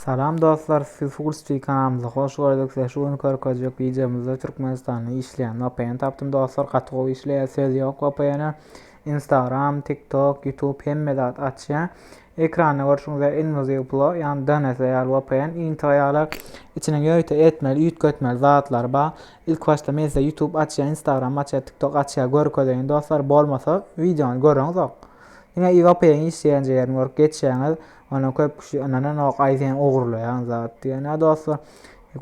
Salam dostlar sizi Fullspeed kanalymyza hoş gördük size şu gün görkezjek wideomyzda Türkmenistanda işleýän vpn tapdym dostlar gaty gowy işleýär söz ýok vpn-e Instagram TikTok YouTube hemme zat açýar ekranda görşüňiz ýaly Invaziw Pro ýagny DNS ýaly vpn intro ýaly içine ýörite etmeli üýtgetmeli zatlary bar ilk başda men size YouTube açýar Instagram açýar TikTok açýar görkezeýin dostlar bolmasa wideony görüňizok diňe vpn işleýän ýerini görüp geçýäňiz Ony köp kişi ynananok aý sen ogurlaýan zat diýen ýa dostlar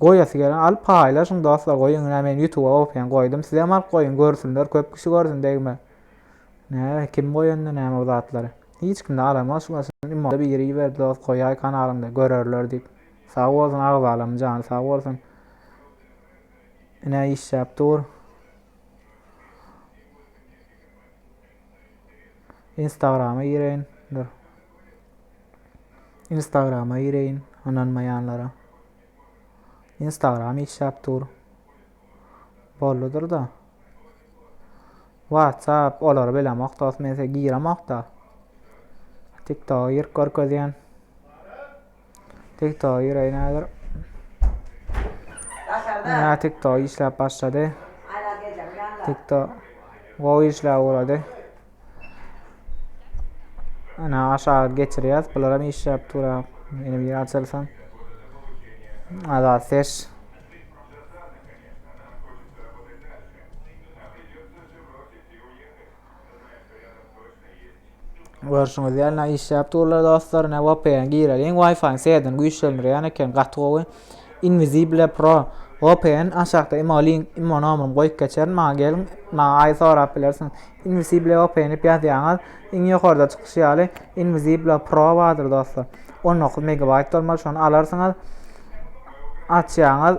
goýasy gelen alyp paýlaşyň dostlar goýuň ine men ýutuba opyan goýdum sizem alyp goýuň görsünler köp kişi görsün degme näme kim goýanda näme bu zatlary hiç kimde alamaz şu maşyny imo biri iberdi dost goýaý kanalyňda görerler diýip sag bolsun agzalam jany sag bolsun ine işläp dur Instagrama gireýin dur. Instagrama gireýin ynanmaýanlara. Instagram işläp dur. Bolludyr da. WhatsApp olary bilemok dost men giremok da. TikTok gir görkezýän. TikTok ýüreýi näder? Ina TikTok işläp başlady. TikTok gowy işläp ugrady. Ina aşağı geçirýäs. Bular hem işläp durýar. Ine bir açylsyn. Azat ses. Görşüňiz ýaly ne işläp durlar dostlar. Ne VPN gireliň. Wi-Fi seden güýçlendirýän eken gaty gowy. Invisible Pro VPN aşakda imo link imo nomerymy goýup geçerin. Maňa geliň. Maňa aý sorap bilersiň. Invisible VPN dip ýazýaňyz. Iň ýokarda çykyşy ýaly Invisible Pro bardyr dostlar. 19 megabayt bolmaly şony alarsyňyz. Açýaňyz.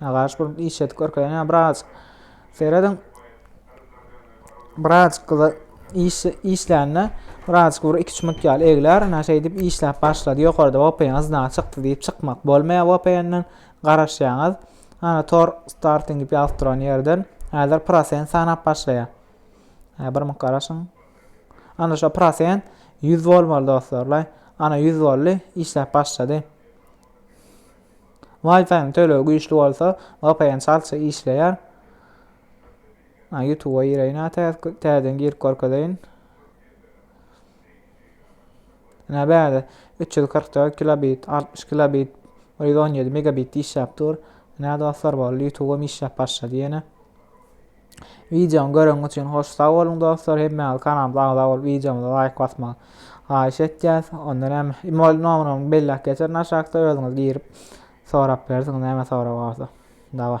Agaç bolup iş edip görkezen ya biraz. Seyredin. Biraz kıza iş, işlände biraz bir iki çumut ýaly egler, ana şeýdip işläp başlady. Ýokarda VPN azna çykdy diýip çykmak bolmaýar VPN-den. Garaşýaňyz. Ana tor starting diýip ýazyp duran ýerden häzir prosent sanap başlaýar. Ha bir muk garaşyň. Ana şu prosent 100 bolmaly dostlar. Ana 100 boldy, işläp başlady. Wi-Fi-ň tölegi güýçli bolsa, VPN çaltça işleýär. Ha, YouTube-a gireýin ha, täzeden girip görkezeýin. Ine bäde 344 kilobit, 60 kilobit, 117 megabit işläp dur. Ine dostlar boldy, YouTube-am işläp başlady ýene. Wideony göreniňiz üçin hoş sag boluň dostlar. Hemmäňiz kanalymyza agza bolup wideomyza laýk basmagy haýyş etýäs. Onda näme? Email nomerimi belläp geçerin aşakda özüňiz girip sorap bilersiňiz näme sorag barsa. Dawa.